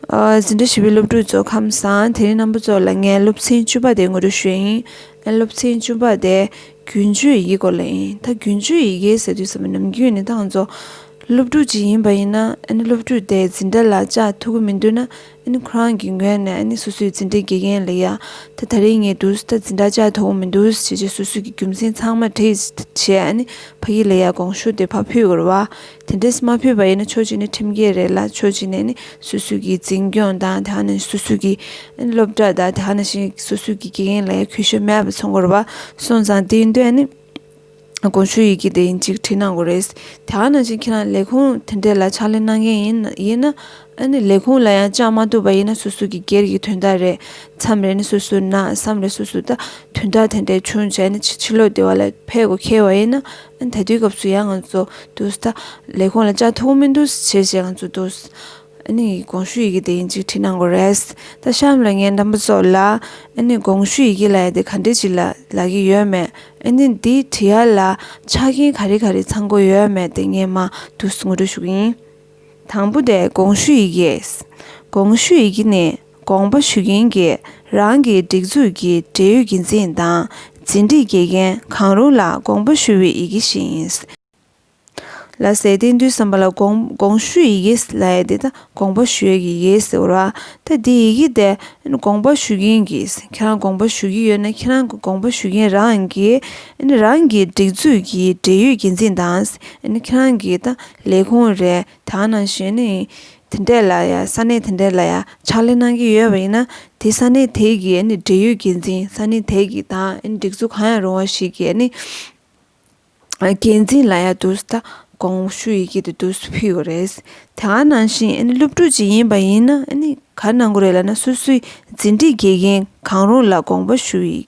འཛིན་གྲྭ་བཞི་པའི་སློབ་ཕྲུག་ཚོ་ཁམས་བཟང་དེ་རིང་རྣམ་པ་ཚོ་ལ་ངས་སློབ་ཚན་བཅུ་པ་དེ་ངོ་སྤྲོད་ཞུ་ཡ་ཡིན། སློབ་ཚན་བཅུ་པ་དེ་རྒྱུན་སྤྱོད་ཡི་གེའི་སྐོར་ལ་ཡིན། ད་རྒྱུན་སྤྱོད་ཡི་གེ་ཟེར་དུས་ཟ་མ་ནམ་རྒྱུན་ནི་ཐང་ཚོ་སློབ་ཕྲུག་ཅིག་ཡིན་པ་ཡིན་ན་སློབ་ཕྲུག་དེ་འཛིན་གྲྭ་ལ་བཅའ་ཐུབ་ཀྱི་མི་འདུག་ན་ཁོ་རང་གི་ངོས་ནས་སོ་སོས་འཛིན་གྲྭའི་དགེ་རྒན་ལ་ཡ་ད་ད་རིང་ངས་འདུག་ད་འཛིན་གྲྭ་བཅའ་ཐུབ་ཀྱི་མི་འདུག་བྱས་རྗེས་སོ་སོའི་གི་རྒྱུ་མཚན་ཚང་མ་བྲིས་བྱས་ཕ་ཡིས་ལ་ཡ་དགོངས་ཞུ་དེ་ཕ་ཕུད་དགོས་ར་བ། དེ་འདྲས་མ་ཕུད་པ་ཡིན་ན་ཆོས་བྱེད་ནི་ཁྲིམས་འགལ་རེད་ལ་ཆོས་བྱེད་ནས་ནི་སུ་སུ་གི་འཛིན་སྐྱོང་དང་དེ་ནི་སུ་སུ་གི་སློབ་གྲྭ་དང་དེ་ནི་སུ་སུ་གི་དགེ་རྒན་ལ་ཡང་གུས་ཞབས་མེད་པ་ཚོར་དགོས་པ་སོང་ཙང་དེའི་འདོད་ནི་དགོངས་ཞུ་ཡི་གེ་དེ་ཡིན་གཅིག་བྲིས་གནང་དགོས་རེད་དེ་ནི་ཁྱེད་རང་ལས་ཁུངས་དེ་འདྲས་ལ་ཕྱག་ལས་གནང་མཁན་ཡིན་ཡིན་ན་ལས་ཁུངས་ལ་ཡང་བཅག་མ་ཐུབ་པ་ཡིན་ན་སུ་སུ་གི་སྒེར་གྱི་དོན་དག་རེད་མཚམས་རེ་ནི་སུ་སུ་ན་བསམ་རེ་སུ་སུ་ད་དོན་དག་དེ་འདྲས་བྱུང་བྱས་ནི་ཕྱི་ལོག་དེ་བ་ལ་ཕེབས་དགོས་ཁེལ་བ་ཡིན་ན། ད་དུས་སྐབས་སུ་ཡང་ང་ཚོ་འདུག་ས་དང། ལས་ཁུངས་ལ་ཅག་ཐུགས་མི་འདུག་བྱེད་བྱེད་ང་ཚོ་འདུག། ཨཱ་ནི་དགོངས་ཞུ་ཡི་གེ་དེ་ཡིན་གཅིག་བྲིས་གནང་དགོས་རེད། ད་གཤམ་ལ་ངས་འདམས་པ་ཚོ་ལ། ཨཱ་ནི་དགོངས་ཞུ་ཡི་གེ་ལ་ཡ་དེ་ག་འདྲས་ཅིག་ལ་ལག་གི་ཡོད་མེད། ཨཱ་ནི་འདི་བྲི་ཡ་ལ་ཆ་རྐྱེན་ག་རེ་ག་རེ་ཚང་དགོས་ཡོད་མེད་དེ་ངས་མ་འདུག་ངོ་སྤྲོད་ཞུ་གི་ཡིན། དང་པོ་དེ་དགོངས་ཞུ་ཡི་གེ། དགོངས་ཞུ་ཡི་གེ་ནི། དགོངས་པ་ཞུ་མཁན་གྱི་རང་གི་སྒྲིག་འཛུགས་ཀྱི་འབྲེལ་ཡོད་འགན་འཛིན་དང་ཟིན་བྲིས་དགེ་རྒན་གང་རུང་ལ་དགོངས་པ་ཞུ་བའི་ཡི་གེ་ཞིག་ཡིན། ལ་ཟེར་ཏེ་འདུས་བསམ་པ་ལ་དགོངས་ཞུ་ཡི་གེ་ལ་ཡ་དེ་དགོངས་པ་ཞུ་ཡི་གེ་ཟེར་རོ། ད་དེ་ཡི་གེ་དེ་དགོངས་པ་ཞུ་མཁན་གྱི་ཁྱེད་རང་དགོངས་པ་ཞུ་གི་ཡོད་ན་ཁྱེད་རང་གི་དགོངས་པ་ཞུ་མཁན་རང་གི་རང་གི་སྒྲིག་འཛུགས་ཀྱི་འབྲེལ་ཡོད་འགན་འཛིན་དང་ཁྱེད་རང་གི་ལས་ཁུངས་རེད་ད་ནང་གཞོན་ནུ་དེ་འདྲས་ལ་ཡ་ས་གནས་དེ་འདྲས་ལ་ཡ་ཕྱག་ལས་གནང་གི་ཡོད་པ་ཡིན་ན་དེ་ས་གནས་དེ་གི་འབྲེལ་ཡོད་འགན་འཛིན་ས་གནས་དེ་གི་དང་སྒྲིག་འཛུགས་གང་ཡང་རུང་བ་ཞིག་གི་འགན་འཛིན་ལ་ཡ་དུས་ད་དགོང་ཞུ་ཡི་གི་དུས་དུས་ཕུལ་གི་རེད་དེ་ག་ནང་བཞིན་སློབ་ཕྲུག་ཅིག་ཡིན་པ་ཡིན་ན་ག་གནང་གི་རེད་ལ་ན་སོ་སོའི་འཛིན་གྲི་དགེ་རྒན་གང་རུང་ལ་དགོངས་པ་ཞུ་ཡི་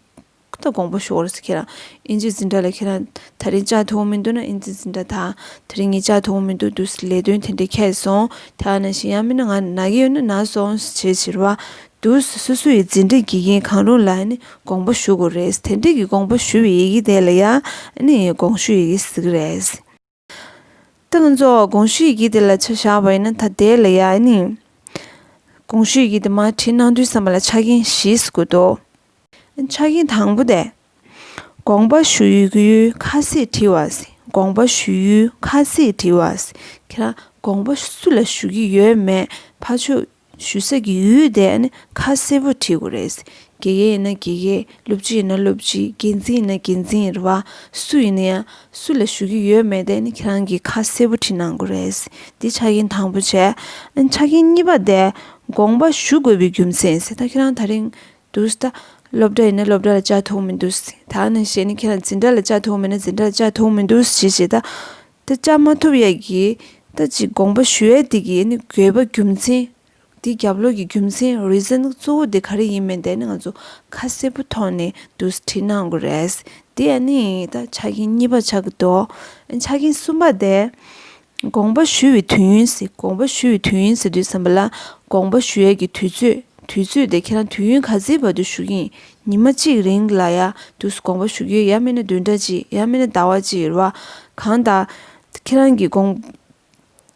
ཁོ་ད་དགོངས་པ་ཞོག་རེས་ཁྱེད་རང་ཨིན་ཇིའི་འཛིན་གྲྭ་ལ་ཁྱེད་རང་ད་རིང་ལྕགས་མཐོང་མི་འདུག་ན་ཨིན་ཇིའི་འཛིན་གྲྭ་དང་ད་རིང་ངས་ལྕགས་མཐོང་མི་འདུག་དུས་སུ་ལས་དོན་དེ་འདྲས་ཁེལ་སོང་དེ་ཡང་ན་གཞན་ཡང་མིན་ན་ང་ན་གི་ཡོད་ན་ན་སོང་ཞེས་བྱེད་རུང་བ་དུས་སུ་སོ་སོ་ཡི་འཛིན་གྲྭའི་དགེ་རྒན་གང་རུང་ལ་ནི་དགོངས་པ་ཞུ་དགོས་རེད་དེ་འདྲས་ཀྱི་དགོངས་པ་ཞུ་བའི་ཡི་གེ་དེ་ལ་ཡང་ནི་དགོངས་ཞུ་ཡི་གེ་ཟེར་གི་རེད། ཏིང་འཛོགས་དགོངས་ཞུས་ཀྱིས་དེ་ལ་ཆ་བཞག་པ་ཡིན་ན་ད་ལྟའི་ལ་ཡ་ནི། དགོངས་ཞུས་ཀྱིས་དེ་མ་བྲིས་ན་དུས་བསམ་པ་ལ་ཆ་རྐྱེན་བཞིས་བསྐུལ་ཏོ། ཆ་རྐྱེན་དང་པོ་སྟེ། དགོངས་པ་ཞུ་ཡུལ་ཁ་གསལ་བྲི་བ། དགོངས་པ་ཞུ་ཡུལ་ཁ་གསལ་བྲི་བ། ཁྱེད་རང་དགོངས་པ་སུ་ལ་ཞུ་གི་ཡོད་མེད་ཕ་ཆོས་ཞུ་ས་གི་ཡུལ་དེ་ནི་ཁ་གསལ་པོ་བྲིས་དགོས་རེད། དགེ་རྒན་ཡིན་ན་དགེ་རྒན་སློབ་སྤྱི་ཡིན་ན་སློབ་སྤྱི་འགན་འཛིན་ཡིན་ན་འགན་འཛིན་ཡིན་རུང་སུ་ཡིན་ན་ཡང་སུ་ལ་ཞུ་གི་ཡོད་མེད་དེ་ནི་ཁྱེད་རང་གིས་ཁ་གསལ་པོ་བྲིས་གནང་དགོས་རེད། འདི་ཆ་རྐྱེན་དང་པོ་བྱས། ཆ་རྐྱེན་གཉིས་པ་དེ་དགོངས་པ་ཞུ་དགོས་པའི་རྒྱུ་མཚན་ཡིན། ད་ཁྱེད་རང་ད་རིང་འདུག་ད་སློབ་གྲྭ་ཡིན་ན་སློབ་གྲྭ་ལ་བཅའ་ཐུབ་མི་འདུག་ད་ནང་ཞེས་ནི་ཁྱེད་རང་འཛིན་གྲྭ་ལ་བཅའ་ཐུབ་མེད་ན་འཛིན་གྲྭ་ལ་བཅའ་ཐུབ་མི་འདུག་ཞེས་བྱས་ད་ད་ཅག་མ་ཐུབ་ཡས་ཀྱི་ད་ཅིག་དགོངས་པ་ཞུ་ཡས་དེ་གི་ནི་དགོས་པ་རྒྱུ་མཚན། དེ་རྒྱབ་ལོགས་ཀྱི་རྒྱུ་མཚན Reason གཙོ་བོ་དེ་ག་རེ་ཡིན་མིན་དེ་ནི་ང་ཚོ་ཁ་གསལ་པོ་ཐོག་ནས་བསྡུ་སྒྲིལ་གནང་དགོས་རེད། དེ་ཡས་ནི་ད་ཆ་རྐྱེན་གཉིས་པ་ཆགས་ཀྱི་འདུག་ཆ་རྐྱེན་གསུམ་པ་དེ། དགོངས་པ་ཞུ་བའི་དུས་ཡིན་ཟེར་དགོངས་པ་ཞུ་བའི་དུས་ཡིན་ཟེར་དུས་བསམ་པ་ལ་དགོངས་པ་ཞུ་ཡས་ཀྱི་དུས་ཚོད་དུས་ཚོད་དེ་ཁྱེད་རང་དུས་ཡུན་ག་ཚིའི་བར་དུ་ཞུ་གིན་ཉི་མ་གཅིག་རིང་ལ་ཡ་དུས་སུ་དགོངས་པ་ཞུ་རྒྱུའི་ཡ་མེད་ན་བདུན་ཕྲག་གཅིག་ཡ་མེད་ན་ཟླ་བ་གཅིག་རེད་བ། གང་ལྟར། ཁྱེད་རང་གིས་དགོངས།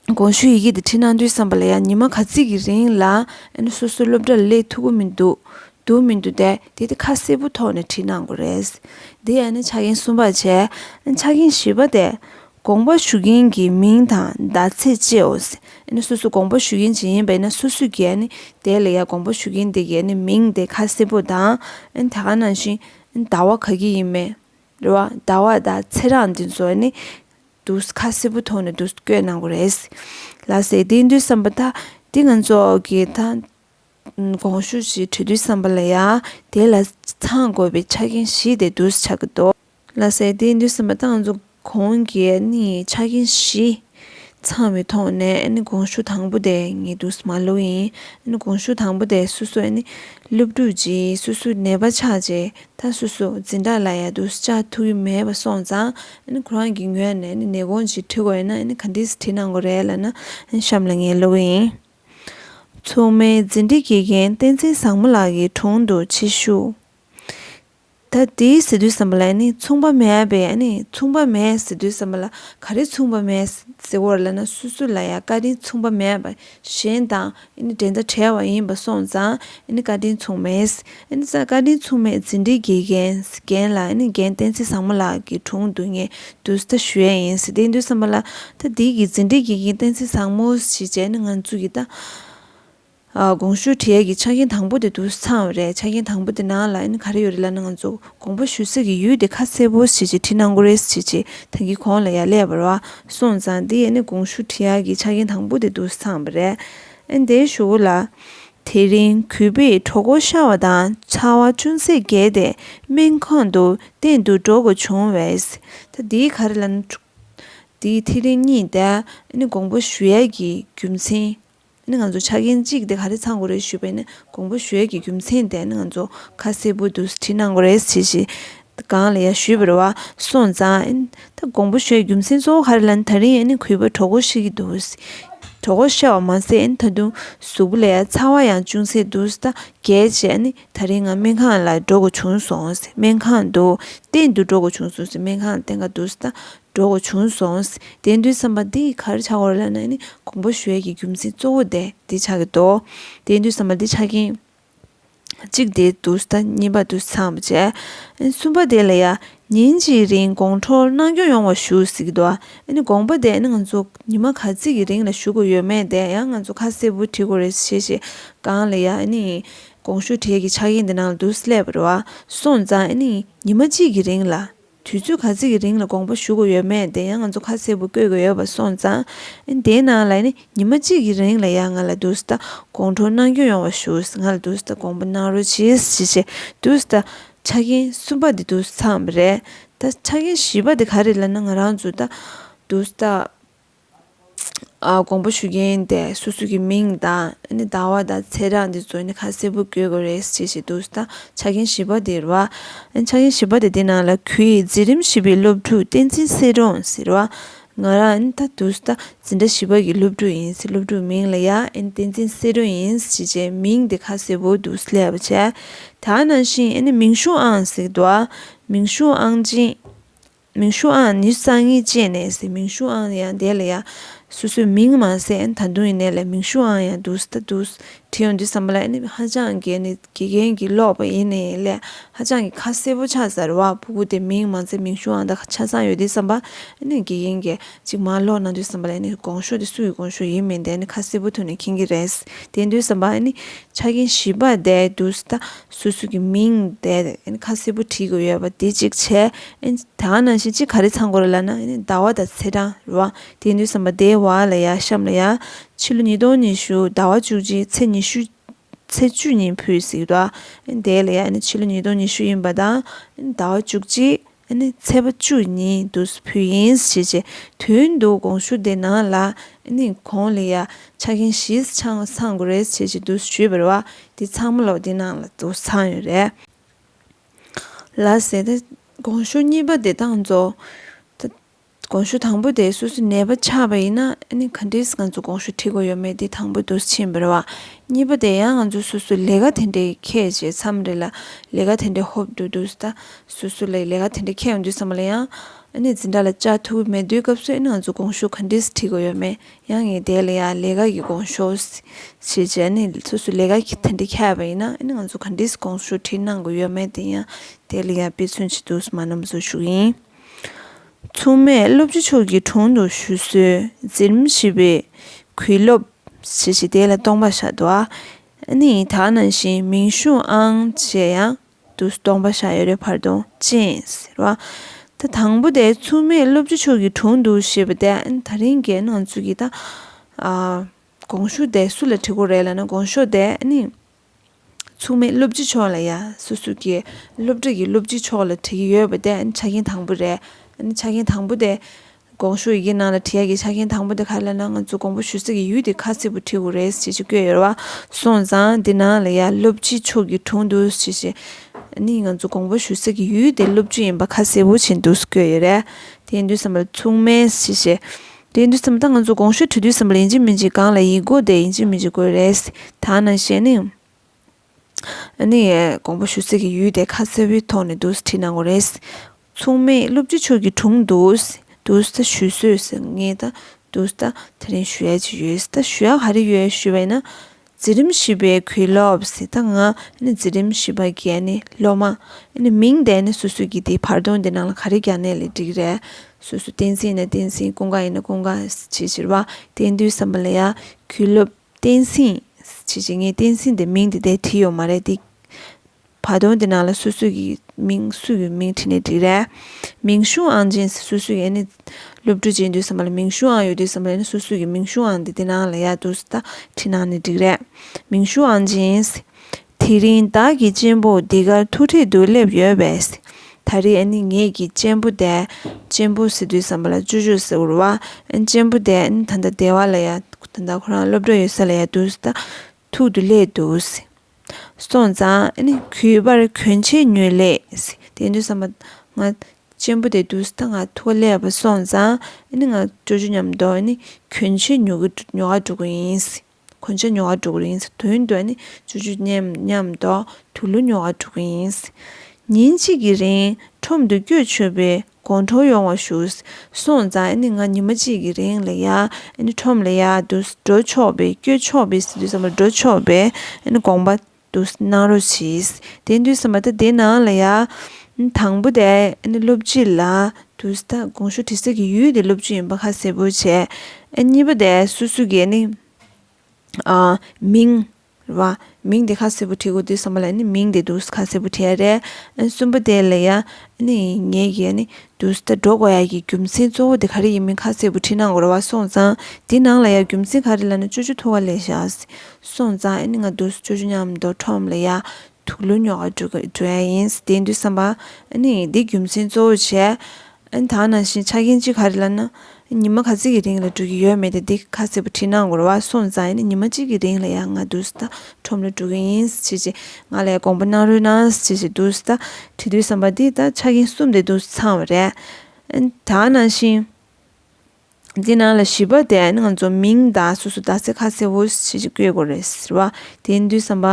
དགོངས་ཞུའི་ཡི་གེ་དེ་འཕྲིན་གནང་དུས་བསམ་པ་ལ་ཡ་ཉི་མ་ག་ཚིག་གི་རིང་ལ་ཨེ་ན་སོ་སོའི་སློབ་གྲྭ་ལ་ལས་ཐུག་གི་མི་འདུག་འདུག་མི་འདུག་དེ་དེ་དེ་ཁ་གསལ་པོ་ཐོག་ནས་བྲིས་གནང་དགོས་རེད། དེ་ཡ་ན་ཆ་རྐྱེན་གསུམ་པར་བྱས། ཆ་རྐྱེན་བཞི་པ་དེ། དགོངས་པ་ཞུ་མཁན་གྱི་མིང་དང་ཟླ་ཚེས་བཅས་འོ་སི་ནི་སོ་སོ་དགོངས་པ་ཞུ་མཁན་ཇི་ཡིན་པ་ནི་སོ་སོས་གྱི་ནི་དེ་ལ་ཡ་དགོངས་པ་ཞུ་མཁན་དེ་གྱི་ནི་མིང་དེ་ཁ་གསལ་པོ་དང་དེ་ག་ནང་བཞིན་ཟླ་བ་ག་གི་ཡིན་མེད་རེད་བ་ཟླ་བ་ཟླ་ཚེས་རང་དེ་ཚོ་ནི་དུ་ཁ་གསལ་པོ་ཐོག་ནས་དུ་བཀོད་གནང་དགོས་རེད་ལ་ཟེར་དེ་དུས་བསམ་པ་ད་དེ་ང་ཚོ་གི་ད་དགོངས་ཞུ་ཞིག་བྲི་དུས་བསམ་པ་ལ་ཡ་དེ་ལ་ཚང་དགོས་པའི་ཆ་རྐྱེན་བཞི་དེ་དུ་ཆགས་ཀྱི་འདུག། ལ་ཟས་དེ་འདུས་ཟིན་པ་དང་འཛུགས་གོང་གི་ཆ་རྐྱེན་བཞི་ཚང་བའི་ཐོག་ནས་དགོངས་ཞུ་དང་པོ་དེ་ངེས་དུ་མ་ལོག་ཡིན། དགོངས་ཞུ་དང་པོ་དེ་སུ་སུ་སློབ་ཕྲུག་ཅིག་སུ་སུ་ནད་པ་ཆགས་རྗེས་ད་སུ་སུ་འཛིན་གྲྭ་ལ་ཡལ་དུ་བཅར་ཐུབ་ཀྱི་མེད་པ་སོང་ཙང་ཁོ་རང་གི་ངོས་ནས་ནད་དགོངས་ཅིག་བྲི་དགོས་ཡོད་ན་ག་འདྲིས་བྲིས་གནང་དགོས་རེད་ལབ་ན་གཤམ་ལ་ངས་ལོག་གི་ཡིན། མཚུངས་མེད་འཛིན་གྲྭའི་དགེ་རྒན་བསྟན་འཛིན་བཟང་མོ་ལགས་ཀྱི་དྲུང་དུ་ཕྱི་བཤུག། ད་དེའི་ཟེ་དུས་བསམ་པ་ལ་ནི་མཚུངས་པ་མེད་པས་ནི་མཚུངས་པ་མེད་ཟེ་དུས་བསམ་པ་ལ་ག་རེ་མཚུངས་པ་མེད་ཟེ་བོར་ལ་ན་སུ་སུ་ལ་ཡང་བཀའ་དྲིན་མཚུངས་པ་མེད་པ་གཞན་དང་ནི་འབྲེལ་ཟླ་བྲལ་བ་ཡིན་པ་སོང་ཙང་ནི་བཀའ་དྲིན་མཚུངས་མེད་ཟེ་ཙང་བཀའ་དྲིན་མཚུངས་མེད་ཟེ་འདི་དགེ་རྒན་རྒན་ལ་ནི་རྒན་བསྟན་འཛིན་བཟང་མོ་ལགས་ཀྱི་དྲུང་དུ་ངས་དུས་ད་ཞུ་ཡས་ཡིན་ཟེ་དེའི་དུས་བསམ་པ་ལ་ད་དེའི་གི་ཟེ་འདི་དགེ་རྒན་བསྟན་འཛིན་བཟང་མོ་ཞེས་བྱས་ནི་ང་ཚོ་གི་ད། དགོངས་ཞུ་གྲལ་གྱི་ཆ་རྐྱེན་དང་པོ་དེ་དུ་ཚང་བ་རེད་ཆ་རྐྱེན་དང་པོ་དེ་ནང་ལ་ཨེ་ནི་ག་རེ་ཡོད་རེད་ལར་ནས་ང་ཚོ་དགོངས་པ་ཞུ་ས་ཀྱི་ཡུལ་དེ་ཁ་གསལ་པོ་བྱེད་ཅིག་བྲིས་གནང་གོ་རེས་བྱེད་ཅིག་ད་གི་གོང་ལ་ཡ་ལས་བར་བ་སོང་ཙང་དེ་ཨེ་ནི་དགོངས་ཞུ་གྲལ་གྱི་ཆ་རྐྱེན་དང་པོ་དེ་དུ་ཚང་བ་རེད་ཨེ་དེ་ཞུ་གོ་ལ། དེ་རིང་གུས་པས་གྲོགས་སྐོར་ཤར་བ་དང་ཚ་བ་ཅུང་ཟད་རྒྱས་ཏེ་སྨན་ཁང་དུ་གཏན་དུ་འགྲོ་དགོས་བྱུང་བས་ད་དེ་ག་རེ་ལ་ནི། དེ་ཐེངས་རེ་གཉིས་ད་ཨེ་ནི་དགོངས་པ་ཞུ་ཡ་གྱི་རྒྱུ་མཚན་ནི་ང་ཚོ་ཆ་རྐྱེན་གཅིག་དེ་ག་རེ་ཚང་དགོས་རེད་ཞུས་པས་ནི་གོང་བུ་ཞོལ་གྱི་རྒྱུ་མཚན་དེ་ནི་ང་ཚོ་ཁ་གསལ་བོ་དུ་བྲིས་གནང་དགོས་རེད་ཅེས་བྱས། གང་ལ་ཡ་ཞུས་པར་བ་སོང་ཙང། ད་གོང་བུ་ཞོལ་གྱི་རྒྱུ་མཚན་གཙོ་བོ་ག་རེ་ལ་ནི་ད་རིང་ནི་གུས་པ་གྲོགས་པོ་ཤི་གི་འདུག་གྲོགས་པོ་ཤི་བ་མ་ཟད་ནི་ད་དུང་གཟུགས་པོ་ལ་ཡ་ཚ་བ་ཡང་ཅུང་ཟད་འདུག་ད་གལ་སྤྱད་ནི་ད་རིང་ང་སྨན་ཁང་ལ་འགྲོ་དགོས་བྱུང་སོང་སྨན་ཁང་དུ་གཏན་དུ་འགྲོ་དགོས་བྱུང་སོང་སྨན་ཁང་ལ་གཏན་འག་འདུག་ད་འགྲོ་འགོ་བྱུང་སོང། བདེན་མཐུའི་བསམ་པ་འདི་གར་ཆགས་འོར་ལ་ནང་ནས་གོང་བུ་ཞོལ་གྱི་རྒྱུ་མཚན་གཙོ་བོ་དེ་འདི་ཆགས་ཀྱི་འདུག་བདེན་མཐུའི་བསམ་པ་འདི་ཆགས་རྐྱེན་གཅིག་དེ་འདུག་ཟླ་གཉིས་པ་དུ་ཚང་བ་བྱས། གསུམ་པ་དེ་ལ་ཡང་ཉིན་གཅིག་རིང་དགོང་དྲོ་གནང་སྐྱོང་ཡོང་བ་ཞུ་ཟེར་གྱི་འདུག་དགོངས་པ་དེ་ང་ཚོ་ཉི་མ་ག་ཚིག་གི་རིང་ལ་ཞུ་དགོས་ཡོད་མེད་དེ་ཡང་ང་ཚོ་ཁ་གསལ་བོ་བྲིས་དགོས་རེད་ཞེས་བཤད་སྒང་ལ་ཡང་གོང་ཞུ་གྲལ་གྱི་ཆགས་རྐྱེན་འདི་ནང་དུ་སླེབས་པར་སོང་ཙང་ཉི་མ་གཅིག་གི་རིང་ལ། དུས་ཚོད་ག་ཚོད་ཀྱི་རིང་ལ་དགོངས་པ་ཞུ་དགོས་ཡོད་མེད་དེ་ཡང་ང་ཚོ་ཁ་གསལ་བོ་བཀོད་དགོས་ཡོད་པ་སོང་ཙང། དེའི་ནང་ལ་ནི་ཉི་མ་གཅིག་གི་རིང་ལ་ཡང་ང་ལ་དུས་ཟླ་དགོངས་འཁྲོལ་གནང་སྐྱོང་ཡོང་བ་ཞུ། ང་ལ་དུས་ཟླ་དགོངས་པ་གནང་རོལ་གྱིས་ཞེས་བྱས་དུས་ཟླ་ཆ་རྐྱེན་གསུམ་པ་དེ་དུས་ཚང་བ་རེད། ད་ཆ་རྐྱེན་བཞི་པ་དེ་ག་རེ་ལ་ན་ང་རང་ཚོ་ད་དུས་ཟླ་དགོངས་པ་ཞུ་མཁན་དེ་སོ་སོ་གི་མིང་དང་ཟླ་བ་དང་ཚེས་གྲངས་དེ་ཚོ་ཁ་གསལ་བོ་བཀོད་དགོས་རེད་ཅེས་བཤད་འདུག་ད་ཆ་རྒན་བཞི་པ་དེ་རུ་ཨ་ཆ་རྒན་བཞི་པ་དེ་དེ་ནང་ལ་གུས་ཡི་འཛིན་རིམ་བཞི་པའི་སློབ་ཕྲུག་བསྟན་འཛིན་བསེ་སྒྲོན་ཟེར་བ་ང་རང་ད་དུས་ད་འཛིན་གྲྭ་བཞི་པ་གི་སློབ་ཕྲུག་ཡིན་སྲིད་སློབ་ཕྲུག་མིང་ལ་ཡང་བསྟན་འཛིན་བསེ་སྒྲོན་ཡིན་སྲིད་ཅེས་མིང་དེ་ཁ་གསལ་བོ་འདུག་སླད་པ་བྱས་ད་ནང་བཞིན་མིང་གཞུང་ཨང་ཟེར་འདུག་མིང་གཞུང་ཨང་ཅན། མིང་ཤུ་ཨང་ནི་སང་ཉིན་བཅས་ནས་ཟེར་མིང་ཤུ་ཨང་ཡང་འདས་ལ་ཡ། སོ་སོའི་མིང་མ་ཟད་ད་དུང་ཡིན་ནའི་ལ་མིང་ཤུ་ཨང་ཡང་འདུག་ད་འདུག་བྲིས་ཡོང་དུས་བསམ་པ་ལ་ཨེ་ནི་ཧ་ཅང་དགེ་ནི་དགེ་རྒན་གྱིས་ཀློག་པ་ཡིན་ནའི་ལ་ཧ་ཅང་གི་ཁ་གསལ་པོ་ཆགས་ཟེར་བ་བུ་གུ་དེ་མིང་མ་ཟད་མིང་ཤུ་ཨང་ད་ཆ་ཚང་ཡོད་དུས་བསམ་པ་ཨེ་ནི་དགེ་རྒན་གྱིས་གཅིག་མ་ཀློག་གནང་དུས་བསམ་པ་ལ་ཨེ་ནི་དགོངས་ཤོག་དེ་སུ་ཡི་དགོངས་ཤོག་ཡིན་མིན་དེ་ཨེ་ནི་ཁ་གསལ་པོ་ཐོན་ནས་མཁྱེན་གྱི་རེད་དེ་འདུག་བསམ་པ་ཨེ་ནི་ཆ་རྐྱེན་ཞིབ་པ་བསྡད་འདུག་ད་སུ་སུ་གི་མིང་དེ་ཁ་གསལ་པོ་བྲིས་དགོས་ཡོད་པ་དེ་གཅིག་བྱས། ད་ང་ནང་བཞིན་ཅི་ག་རེ་ཚང་དགོས་རེད་ལབ་ན་ཟླ་བ་དང་ཚེས་གྲངས་རེད་བ། དེ་འདུས་བསམ་པ་དེ་བ་ལ་ཡ་གཤམ་ལ་ཡ། ཕྱི་ལོ་ཉིས་སྟོང་ཉི་ཤུ་ཟླ་བ་བཅུ་གཅིག་ཚེས་ཉི་ཤུ། ཚེས་བཅུ་ཉིན་ཕུད་ཟིག་རེད་བ། དེ་ལ་ཡ་ཕྱི་ལོ་ཉིས་སྟོང་ཉི་ཤུ་ཡིན་པ་དང་ཟླ་བ་བཅུ་གཅིག། ཨ་ནི་ཚལ་པ་བཅུ་གཉིས་དུ་བུ་ཡིན་ཞེས་བྱའི་དོན་དུ་དགོངས་ཞུ་འདི་གནང་ལ། ཨ་ནི་གོང་ལ་ཡང་ཆ་རྐྱེན་བཞི་ཚང་བ་ཚང་དགོས་རེད་ཅེས་ཀྱི་དུ་ཞུས་པར་བ་དེ་ཚང་མ་ལོག་འདི་གནང་ལ་དུ་ཚང་ཡོད་རེད། ལ་ཟེར་ཏེ་དགོངས་ཞུ་གཉིས་པ་འདི་དང་རྫོགས། དགོངས་ཞུ་དང་པོ་དེ་སོ་སོའི་ནད་པ་ཆགས་པ་ཡིན་ན་ག་འདྲས་ང་ཚོ་དགོངས་ཞུ་ཁྲིད་དགོས་ཡོད་མེད་འདི་དང་པོ་འདུག་ཕྱིན་པར་བ་གཉིས་པ་དེ་ཡང་ང་ཚོ་སོ་སོའི་ལས་ཀ་དེ་འདྲས་ཁྱད་བྱས་མཚམས་རེ་ལ་ལས་ཀ་དེ་འདྲས་ཧོབ་ཏུ་འདུག་ད་སོ་སོ་ལས་ཀ་དེ་འདྲས་ཁྱད་ཡོང་དུས་ས་མ་ལ་ཡང་འཛིན་གྲྭ་ལ་བཅར་ཐུབ་ཀྱི་མེད་དུས་སྐབས་སུ་ང་ཚོ་དགོངས་ཞུ་ག་འདྲས་ཁྲིད་དགོས་ཡོད་མེད་ཡང་ངེས་དེ་ལ་ཡང་ལས་ཀ་གི་དགོངས་ཞུ་ཞེས་བྱས་ནས་སོ་སོའི་ལས་ཀ་དེ་འདྲས་ཁྱད་པ་ཡིན་ན་ང་ཚོ་ག་འདྲས་དགོངས་ཞུ་ཁྲིད་གནང་དགོས་ཡོད་མེད་དེ་ཡང་དེ་ལ་ཡང་དཔེ་མཚོན་གྱི་འདུག་མ་ནུབ་མཛོད་ཞུ་ཡིན། མཚུངས་མེད་བློ་བརྗེ་མཆོག་གི་དྲུང་དུ་བཞུད་གསོལ་འཛིན་རིམ་བཞི་པའི་གུས་སློབ། ཞེས་བྱས་དེ་ལ་སྟོང་པ་བཤགས་འདུག་ཨ་ནི་དག་ནང་བཞིན་མིང་གཞུང་ཨང་བཅས་ཡང་དུ་སྟོང་པ་བཤགས་ཡོད་རེ་བར་དུང་ཅན་ཟེར་བ། ད་དང་པོ་དེ་མཚུངས་མེད་བློ་བརྗེ་མཆོག་གི་དྲུང་དུ་ཞེས་པ་དེ་ད་རིང་གི་སྣང་ཚུལ་གྱིས་ད་དགོངས་ཞུ་དེ་སུ་ལ་བྲི་དགོས་རེད་ལ་ན་དགོངས་ཤོག་དེ་ཨ་ནི། མཚུངས་མེད་སློབ་སྤྱི་མཆོག་ལ་ཡ། སུ་སུ་ཀེ། སློབ་གྲྭ་གི་སློབ་སྤྱི་མཆོག་ལ་དྲི་གི་ཡོད་པ་དེ་ཆ་རྐྱེན་དང་པོ་རེད། ཆ་རྐྱེན་དང་པོ་དེ། དགོངས་ཞུ་ཡི་གེ་ནང་ལ་དྲི་ཡ་གི་ཆ་རྐྱེན་དང་པོ་དེ་ག་ལ་ན་ང་ཚོ་དགོངས་པ་ཞུ་ས་ཀྱི་ཡུལ་དེ་ཁ་གསལ་པོ་བྲིས་འོ་རེད་ཞེས་ཞེས་བཀོད་ཡོད་ར་བ། སོང་ཙང་དེ་ནང་ལ་ཡ་སློབ་སྤྱི་མཆོག་གི་དྲུང་དུ་ཞེས་ཞེས། ནི་ང་ཚོ་དགོངས་པ་ཞུ་ས་ཀྱི་ཡུལ་དེ་སློབ་སྤྱི་ཡིན་པ་ཁ་གསལ་པོ་བྱས་འདུག་ཟེར་བཀོད་ཡོད་རེད། དེའི་མདུན་ས་མ་ལ་མཚུངས་མེད་ཞེས་ཞེས། དེ་འདི་ཙམ་ད་ང་ཚོ་གོང་ཞུས་དུས་དུས་སམ་ལེན་གྱི་མི་འཇིག་གང་ལ་ཡིག་དགོས་དེ་ཡིན་གྱི་མི་འཇིག་དགོས་རེད། ད་ནང་བཤད་ནི། ནི། དགོངས་པ་ཞུ་རྩིས་ཀྱི་ཡུལ་དེ་ཁ་གསལ་བོའི་ཐོག་ནས་འདུག་བྲིས་གནང་གོ་རེད། མཚུངས་མེད་བློ་བརྒྱུད་ཆོས་ཀྱི་དྲུང་དུ། འདུག་ད་ཞུས་སོས་ཟེར་ངེས་ད་འདུག་ད་དེ་རིང་ཞུ་ཡ་གྱི་ཡོད་ད་ཞུ་ཡ་ག་རེ་ཡོད་ཞུས་པ་ཡིན་ན། འཛིན་རིམ་བཞི་པའི་གུས་སློབ་ཟེར་ད་ང་ནི་འཛིན་རིམ་བཞི་པ་རྒན་ནི་སློབ་མ་ནི་མིང་དེ་ནི་སུ་སུ་གི་དེ་བར་སྟོང་དེ་ནང་ལ་ག་རེ་རྒྱག་ནས་ལས་འགྲིག་རེད་སུ་སུ་བསྟན་སྲིང་ཡིན་ན་བསྟན་སྲིང་ཀུན་དགའ་ཡིན་ན་ཀུན་དགའ་བྱེད་ཟེར་བ་བསྟན་འདུས་བསམ་པ་ལ་ཡ་གུས་སློབ་བསྟན་སྲིང་བྱེད་བྱེད་ངས་བསྟན་སྲིང་དེ་མིང་དེ་དེ་བྲིས་ཡོད་མ་རེད་དེ། བ་དོན་དེ་ནང་ལ་སུ་སུ་ཡི་མིང་སུ་ཡོད་མིང་ཁྲིད་ནས་བྲིས་རས། མིང་གཞུང་ཨང་སྦྱིན་སི་སུ་སུ་ཡི་ཨ་ནི། སློབ་ཕྲུག་ཅིག་འདུས་སམ་བ་ལ་མིང་གཞུང་ཨང་ཡོད་དུས་སམ་བ་ལ་ཨ་ནི་སུ་སུ་ཡི་མིང་གཞུང་ཨང་འདི་དེ་ནང་ལ་ཡག་འདུག་སི་ད་ཁྲིད་ནང་ནས་བྲིས་རས། མིང་གཞུང་ཨང་སྦྱིན་སི། དེ་རིང་བདག་གི་གཅེན་པོ་འདི་གར་ཐུག་འཕྲད་དུ་སླེབས་ཡོད་བས་སི། ད་རེས་ཨ་ནི་ངེད་ཀྱི་གཅེན་པོ་དེ། གཅེན་པོ་སི་འདུས་སམ་བ་ལ་ཅོ་ཅོ་སི་འུར་བ། གཅེན་པོ་དེ་ཨ་ནི་ད་ལྟ་སྡེ་བ་ལ་ཡག་ད་ལྟ་ཁོ་རང་སློབ་གྲྭ་ཡོད་ས་ལ་ཡག་འདུག་སི་ད། ཐུག་ཏུ་སླེབས་འདུག། སོང་ཙང་གུས་པར་གུས་ཕྱིར་ཉུལ་ལེ། དེ་ནས་བསམ་པ། ང་གཅེན་པོ་དེ་འདུག་ད་ང་ཐུག་ག་སླེབས་པ་སོང་ཙང་ང་སྤྲོ་རྒྱུ་སྙམ་དུ་གུས་ཕྱིར་ཉུལ་གི་ཉོ་ག་འགྲོ་གི་ཡིན། གུས་ཕྱིར་ཉོ་ག་འགྲོ་གི་ཡིན། དོན་དུ་སྤྲོ་རྒྱུ་སྙམ་དུ་དུ་ལུ་ཉོ་ག་འགྲོ་གི་ཡིན། ཉིན་གཅིག་གི་རིང་ཁྲོམ་དུ་སྐྱོད་ཆོད་པའི་དགོང་དྲོ་ཡོང་བ་ཞུ། སོང་ཙང་ཨ་ནི་ང་ཉི་མ་གཅིག་གི་རིང་ལ་ཡ་ཨ་ནི་ཁྲོམ་ལ་ཡ་འདུག་འགྲོ་ཆོག་པས་བསྐྱོད་ཆོག་པས་སི་འདུག་བསམ་པ་འགྲོ་ཆོག་པས་ཨ་ནི་དགོངས་པ་འདུག་གནང་རོགས་གྱིས་དེ་འདུག་བསམ་པ་ད་དེ་ནང་ལ་ཡ། དང་པོ་དེ་ཨ་ནི་སློབ་སྤྱི་ལ་འདུག་ད་དགོང་ཞུ་དྲི་ཟ་གི་ཡུལ་དེ་སློབ་སྤྱི་ཡིན་པ་ཁ་གསལ་པོ་བྱས། གཉིས་པ་དེ་སུ་སུ་གི་ཨ་ནི། མིང། རེད་བ། མིང་དེ་ཁ་སེར་པོ་བྲིས་དགོས་དུས་བསམ་པ་ལ་ནི་མིང་དེ་འདུག་ས་ཁ་སེར་པོ་བྲིས་ཡ་རེད། གསུམ་པོ་དེ་ལ་ཡ་ནི་ངེད་ཀྱིས་ཡ་ནི་དུས་ད་འགྲོ་དགོས་ཡ་ཀྱི་རྒྱུ་མཚན་གཙོ་བོ་དེ་ག་རེ་ཡིན་མིན་ཁ་སེར་པོ་བྲིས་གནང་དགོས་རེད་བ་སོང་ཙང་དེ་ནང་ལ་ཡ་རྒྱུ་མཚན་ག་རེ་ལ་ནི་ཅོ་ཅོ་ཐུག་ག་ལས་བཞག་སོང་ཙང་ཡ་ནི་ང་དུས་ཅོ་ཅོ་མཉམ་མདོ་ཁྲོམ་ལ་ཡ་དུག་ལུད་ཉོ་ག་འགྲོ་ཡ་ཡིན་དེ་འདུག་བསམ་པ་ཡ་ནི་དེ་རྒྱུ་མཚན་གཙོ་བོ་བྱས། ཨན་ད་ནང་བཞིན་ཆ་རྐྱེན་ཅི་ག་རེད་ལབ་ན། ཉི་མ་ག་ཚིག་གི་རིང་ལ་འགྲོ་གི་ཡོད་མེད་དེ་འདི་ག་ཚེད་པོ་བྲིས་ན་འགོར་བ་སོང་ཙང་ཡིན་ན་ཉི་མ་གཅིག་གི་རིང་ལ་ཡང་ང་འདུག་སྟ་ཁྲོམ་ལ་འགྲོ་གི་ཡིན་ཟེར་ཅིག་ང་ལས་དགོངས་པ་གནང་རོལ་གནང་ཟེར་ཞིག་འདུག་སྟ་བྲིས་དུས་བསམ་པ་འདི་ལྟར་ཆ་རྐྱེན་གསུམ་དེ་འདུག་ཚང་བ་རེད། ཨན་ད་ནང་བཞིན། འདི་ནང་ལ་ཞིབ་པར་བལྟས་ན་ང་ཚོ་མིང་དང་སོ་སོ་རྡ་སའི་ཁ་ཟེར་བོ་ཞེས་ཀྱི་བཀོད་དགོས་རེད་ཟེར་བ་དེ་འདུས་བསམ་པ་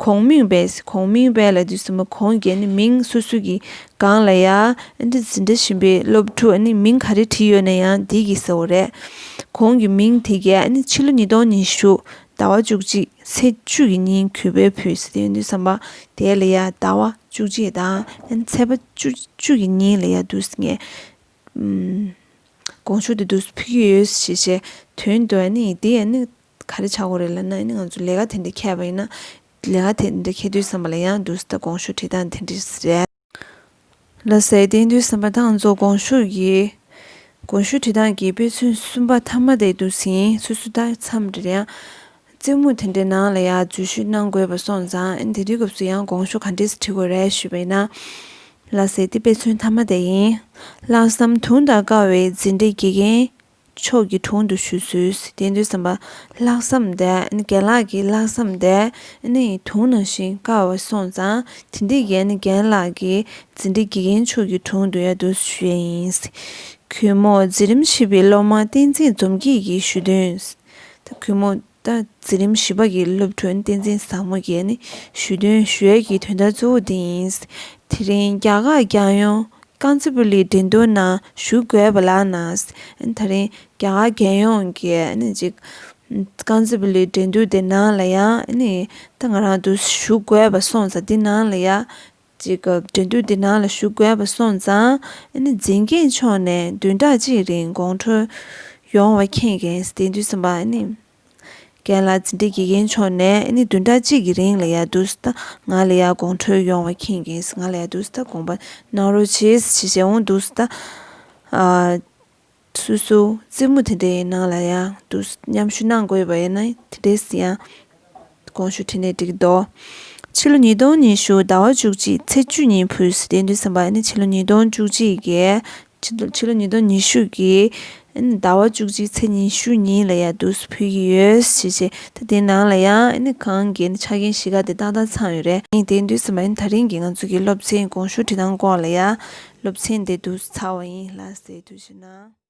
གོང་མིང་བས་ཟེར་གོང་མིང་བས་ལ་འདུས་བསམ་པ་གོང་རྒྱལ་ནི་མིང་སོ་སོ་གི་སྒང་ལ་ཡ་ཨན་ཏི་ཟི་འདྲ་བཞིན་པའི་སློབ་ཕྲུག་ནི་མིང་ག་རེ་བྲིས་ཡོད་ན་ཡང་བདེ་སྐྱིད་ཟེར་བ་རེད་གོང་གི་མིང་དེ་རྒྱལ་ནི་ཕྱི་ལོ་ཉིས་སྟོང་ཉི་ཤུ་ཟླ་བ་བཅུ་གཅིག་ཚེས་བཅུ་གི་ཉིན་གུས་པས་ཕུལ་ཟེར་དེ་འདུས་བསམ་པ་དེ་ལ་ཡ་ཟླ་བ་བཅུ་གཅིག་དང་ཨན་ཚེས་པ་བཅུ་བཅུ་གི་ཉིན་ལ་ཡ་འདུས་ངས་དགོངས་ཞུ་དེ་དུས་སུ་ཕུལ་གྱི་ཡོད་ཞེས་བཤད། དོན་དུ་ཨ་ནི་འདི་ཨ་ནི་ག་རེ་བྱ་དགོས་རེད་ལབ་ན་ཨ་ནི་ང་ཚོ་ལས་ཀ་དེ་འདྲ་ཁྱད་པ་ཡིན་ན། ལས་ཀ་དེ་འདྲ་ཁྱད་དུས་བསམ་པ་ལ་ཡང་དུས་སུ་ད་དགོངས་ཞུ་བྲིས་སྟངས་དེ་འདྲས་རེད། ལ་ཟས་སྟེང་དུས་བསམ་པ་དང་གཙོ་དགོངས་ཞུ་གི། དགོངས་ཞུ་བྲིས་སྟངས་ཀྱི་དཔེ་མཚོན་གསུམ་པ་ཐ་མ་དེ་དུས་ཡིན་ཚོད་སུ་ད་མཚམས་རེར་ཡང། རྩེད་མོ་དེ་འདྲའི་ནང་ལ་ཡང་འཛུལ་ཞུགས་གནང་དགོས་པ་སོང་ཙང་དེ་དུས་སྐབས་སུ་ཡང་དགོངས་ཞུ་ག་འདྲས་སུ་བྲི་དགོས་རེད་ཞུས་པ་ཡིན་ན། ལ་ཟེར་ཏེ་དཔེ་མཚོན་ཐ་མ་དེ་ཡིན། ལྷག་བསམ་དུང་དང་དཀར་བའི་འཛིན་གྲྭའི་དགེ་རྒན་མཆོག་གི་དྲུང་དུ་ཞུ་ཚུལ་བསྟན་དོན་བསམ་པ་ལྷག་བསམ་དེ་རྒན་ལགས་ཀྱི་ལྷག་བསམ་དེ་ནི་དུང་ནང་བཞིན་དཀར་བ་སོང་ཙང་དེ་འདི་གའི་རྒན་ལགས་ཀྱི་འཛིན་གྲྭའི་དགེ་རྒན་མཆོག་གི་དྲུང་དུ་ཡང་དུ་ཞུ་ཡས་ཡིན། གུས་མོ་འཛིན་རིམ་བཞི་པའི་སློབ་མ་བསྟན་འཛིན་འཛོམས་སྐྱིད་ཀྱིས་ཞུས་དོན། ཐུ་གུ་མོ། འཛིན་རིམ་བཞི་པ་ཀྱི་སློབ་ཕྲུག་བསྟན་འཛིན་བཟང་མོ་རྒྱལ་ནི་ཞུས་དོན་ཞོལ་གྱི་དོན་དག་གཙོ་བོ་འདི་ཡིན། དེ་རིང་རྒྱ་གར་རྒྱལ་ཡོངས་རྐང་རྩེད་པུའུ་ལི་འགྲན་བསྡུར་ནང་ཞུགས་དགོས་པ་ལགས་ན། ད་རིང་རྒྱ་གར་རྒྱལ་ཡོངས་ཀྱི་རྐང་རྩེད་པུའུ་ལི་འགྲན་བསྡུར་དེ་ནང་ལ་ཡང་ང་རང་དུ་ཞུགས་དགོས་པ་སོང་ཙང་དེ་ནང་ལ་ཡང་ཅིག་སྐབས་འགྲན་བསྡུར་འདི་ནང་ལ་ཞུགས་དགོས་པ་སོང་ཙང། འཛིན་སྐྱེས་མཆོག་ནས་བདུན་ཕྲག་གཅིག་རིང་དགོང་དྲོ། ཡོང་བ་མཁྱེན་མཁན་སྟེ་འདུས་སམ་པ། རྒན་ལགས་འཛིན་གྲྭའི་དགེ་རྒན་མཆོག་ནས་བདུན་ཕྲག་གཅིག་གི་རིང་ལ་ཡར་འདུག་ད་ང་ལ་ཡར་དགོང་དྲོ་ཡོང་བ་མཁྱེན་མཁན་ང་ལ་ཡར་འདུག་ད་དགོངས་པ་གནང་རོགས་བྱེད་ཞེས་འོང་འདུག་ད། སུ་སུ། རྩེད་མོ་དེ་འདྲའི་ནང་ལ་ཡང་དུ་མཉམ་ཞུགས་གནང་དགོས་པ་ཡིན་ན་དེ་འདྲས་ཡང་དགོངས་ཞུ་ཕྲིན་ལས་བསྒྲིག་གི་འདུག་ཕྱི་ལོ་ཉིས་སྟོང་ཉི་ཤུ་ཟླ་བ་བཅུ་གཅིག་ཚེས་བཅུ་ཉིན་བོད་སི་དེ་འདྲའི་སེམས་པ་ནི་ཕྱི་ལོ་ཉིས་སྟོང་བཅུ་གཅིག་གི་ཕྱི་ལོ་ཉིས་སྟོང་ཉི་ཤུ་གི་ཟླ་བ་བཅུ་གཅིག་ཚེས་ཉི་ཤུ་ཉིན་ལ་ཡང་དུ་སུ་ཕུལ་གྱི་ཡོད་ཞེས་བཤད། ད་དེའི་ནང་ལ་ཡང་ཨ་ནི་གངས་རྒྱན་ཆ་རྐྱེན་གཞིས་ཀ་དེ་ཏག་ཏག་ཚང་ཡོད་རེད། ཨ་ནི་དེའི་མདུན་ས་མ་ཡིན་ད་རིང་གི་ང་ཚོ་གི་སློབ་ཚན་གོང་ཞུ་འབྲི་སྟངས་སྐོར་ལ་ཡང་སློབ་ཚན་དེ་བསྡུ་ཚར་བ་ཡིན་ལ་སའི་དུས་ཕྱིར་ན།